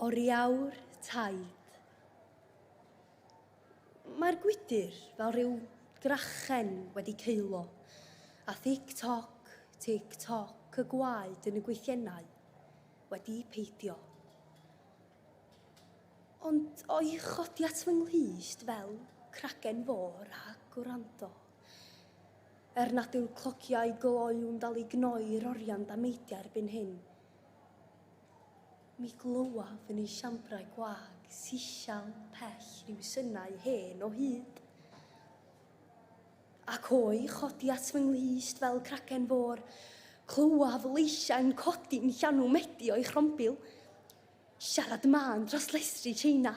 Oriawr taid. Mae'r gwydr fel rhyw drachen wedi ceilo, a thic-toc, tic-toc y gwaed yn y gwythiennau wedi peidio. Ond o'i chodi at fy nghlust fel cragen fôr a gwrando. Er nad yw'r clociau gloiw'n dal i gnoi'r orian dameidiau erbyn hyn, Mi glywaf yn ei siambrau gwag sisial pell ryw synau hen o hyd, ac o'i chodi at fy nghlust fel cragen fôr, clywaf leisiau'n codi'n llanw medi o'i chrombil. Siarad mân dros lestri Tsieina,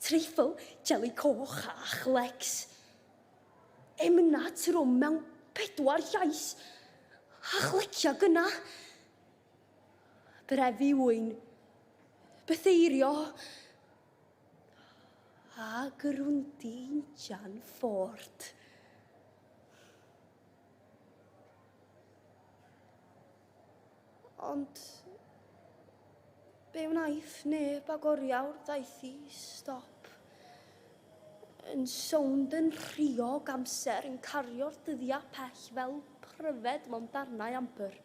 treifl, jeli coch a chlecs. Emynau trwm mewn pedwar llais, a chlecia gyna. Brefu ŵyn. Bytheirio. A gyrwndi injan ffort. Ond... Be wnaeth neb ag oriawr ddaeth i stop. Yn sownd yn rhiog amser yn cario'r dyddiau pell fel pryfed mewn darnau ambr.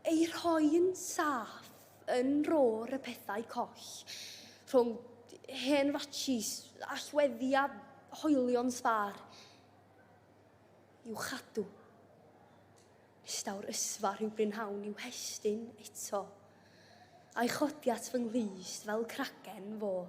ei rhoi'n saff yn rôr y pethau coll, rhwng hen ratshis allweddi a hoelion sbâr, i'w chadw. Nes daw'r ysfa rhyw brynhawn i'w hestyn eto, a'i chodi at fy nghlust fel cragen fôr.